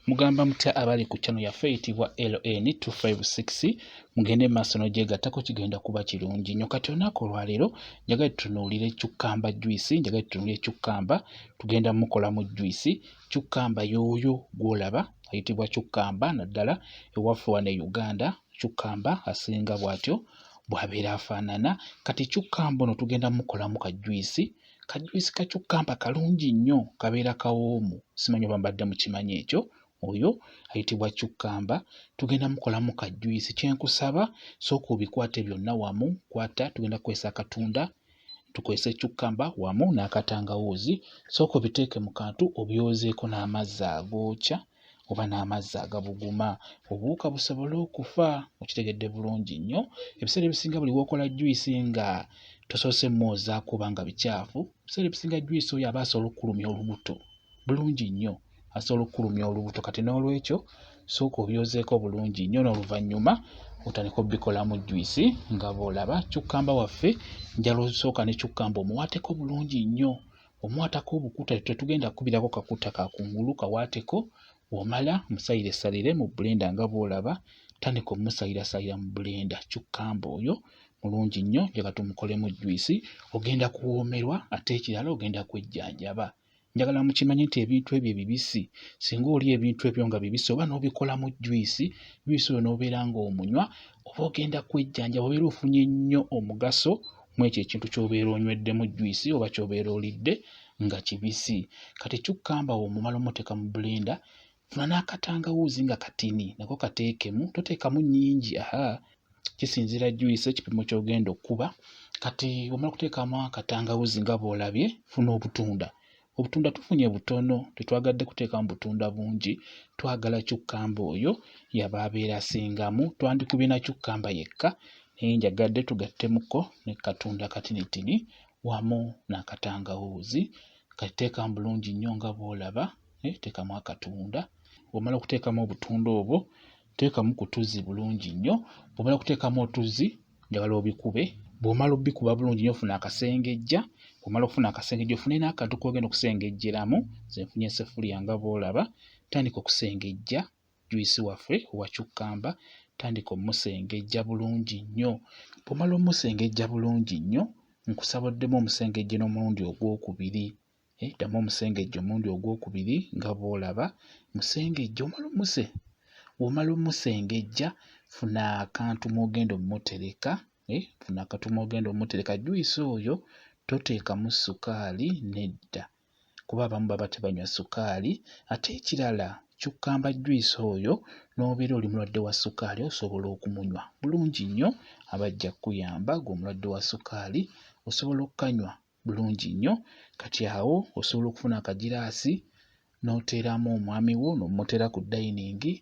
Mugamba mutya abali ku channel yaffe eyitibwa LN256 mugende maaso n'ogyegattako kigenda kuba kirungi nyo. Kati olunaku olwaleero njagala tutunuulire cukkamba juyisi, njagala tutunuulire cukkamba tugenda mukolamu juyisi. Cukkamba yooyo gw'olaba ayitibwa cukkamba naddala ewaffe wano e Uganda cukkamba asinga bw'atyo bw'abeera afaanana. Kati cukkamba ono tugenda mukolamu ka juyisi Ka juice ka cucumber kalungi nnyo kabeera kawoomu simanyi oba mbadde mukimanyi ekyo oyo ayitibwa cucumber tugenda mukolamu ka juice kyenkusaba sooka obikwate byonna wamu kwata tugenda kukozesa akatunda tukozese cucumber wamu n'akatangawuuzi sooka obiteeke mu kantu obyozeeko n'amazzi agookya oba n'amazzi agabuguma obuwuka busobole okufa okitegedde bulungi nnyo ebiseera ebisinga buli wokola juyisi nga tosoose mwoozaako oba nga bikyafu ebiseera ebisinga juyisi oyo aba asobola okukulumya olubuto bulungi nnyo asobola okukulumya olubuto kati n'olwekyo sooka obyozeeko bulungi nnyo n'oluvannyuma otandika obikolamu juyisi nga bw'olaba cukkamba waffe njala osooka ne cukkamba omuwaateko bulungi nnyo omwatako obukuta tetugenda kukubirako kakuta kakungulu kawaateko womala musayire salire mu bulenda nga bwolaba tandika omusayira sayira mu bulenda cucumber oyo mulungi nnyo njagala tumukolemu juyisi ogenda kuwoomerwa ate ekirala ogenda kwejjanjaba njagala mukimanye nti ebintu ebyo ebibisi singa oli ebintu ebyo nga bibisi oba n'obikolamu juyisi juyisi oyo n'obeera ng'omunywa oba ogenda kwejjanjaba obeera ofunye nnyo omugaso mwekyo ekintu kyobeera onyweddemu juyisi oba kyobeera olidde nga kibisi kati kyukkamba wo omumala omuteka mu bulenda funa n'akatangawuuzi nga katini nako kateekemu toteekamu nyingi aha kisinziira juyisi ekipimo kyogenda okukuba kati omala okuteekamu akatangawuuzi nga bwolabye funa obutunda obutunda tufunye butono tetwagadde kuteekamu butunda bungi twagala cukkamba oyo yaba abeera asingamu twandikubye na cukkamba yekka naye njagadde tugattemuko ne katunda katinitini wamu n'akatangawuuzi kateekamu bulungi nnyo nga bw'olaba eh, teekamu akatunda bw'omala okuteekamu obutunda obwo Teekamu ku tuzzi bulungi nnyo. Bw'omala okuteekamu otuzzi njagala obikube. Bw'omala obikuba bulungi nnyo ofuna akasengejja. Bw'omala okufuna akasengejja ofune n'akantu k'ogenda okusengejjeramu. Nze nfunye essefuliya nga bw'olaba. Tandika okusengejja juyisi waffe owa cukkamba. Tandika omusengejja bulungi nnyo. Bw'omala omusengejja bulungi nnyo nkusaba oddemu omusengejje n'omulundi ogwokubiri. Eh, ddamu omusengejja omulundi ogwokubiri nga bw'olaba musengejja omala omuse womala omusengejja funa akantu mwogenda omutereka eh, funa akantu mwogenda omutereka juyisi oyo toteekamu sukaali nedda kuba abamu baba tebanywa sukaali ate ekirala kyukkamba juyisi oyo n'obeera oli mulwadde wa sukaali osobola okumunywa bulungi nnyo aba ajja kukuyamba gwe omulwadde wa sukaali osobola okukanywa bulungi nnyo kati awo osobola okufuna akagiraasi n'oteeramu omwami wo n'omuteera ku dayiningi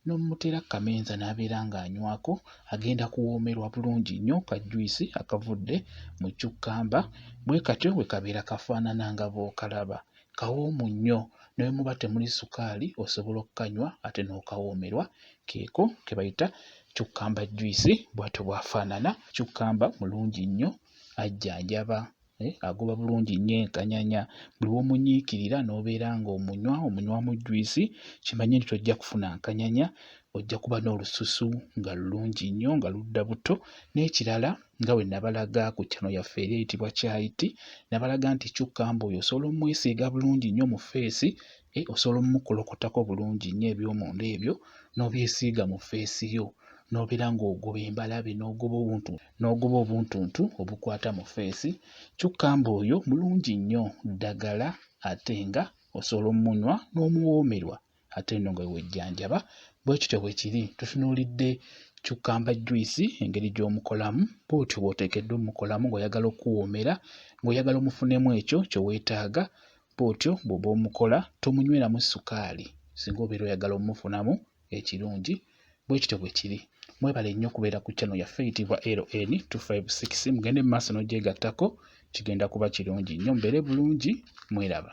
n'omuteera ku kamenza n'abeera ng'anywako agenda kuwoomerwa bulungi nnyo ka juyisi akavudde mu cukkamba bwe katyo bwe kabeera kafaanana nga bw'okalaba kawoomu nnyo ne bwe muba temuli sukaali osobola okukanywa ate n'okawoomerwa keeko ke bayita cukkamba juyisi bw'atyo bw'afaanana cukkamba mulungi nnyo ajjanjaba, eh, agoba bulungi nnyo enkanyanya. Buli w'omunyiikirira n'obeera ng'omunywa, omunywamu jwisi, kimanye nti tojja kufuna nkanyanya, ojja kuba n'olususu nga lulungi nnyo nga ludda buto. N'ekirala nga bwe nabalaga ku channel yaffe eri eyitibwa Kyayiti, nabalaga nti cucumber oyo osobola omwesiiga bulungi nnyo mu ffeesi, eh, osobola omukolokotako bulungi nnyo eby'omunda ebyo n'obyesiiga mu ffeesi yo. n'obeera ng'ogoba embalabe n'ogoba obuntu n'ogoba obuntuntu obukwata mu ffeesi kyokka ng'oyo mulungi nnyo ddagala ate nga osobola omunywa n'omuwoomerwa ate nno nga wewejjanjaba bwe kityo bwe kiri tutunuulidde cukkamba juyisi engeri gy'omukolamu bw'otyo bw'oteekeddwa omukolamu ng'oyagala okukuwoomera ng'oyagala omufunemu ekyo kye weetaaga bw'otyo bw'oba omukola tomunyweramu ssukaali singa obeera oyagala omufunamu ekirungi bwe kityo bwe kiri mwebale nnyo okubeera ku channel yaffe eyitibwa LN 256 mugende mu maaso n'ogyegattako kigenda kuba kirungi nnyo mbeere bulungi mweraba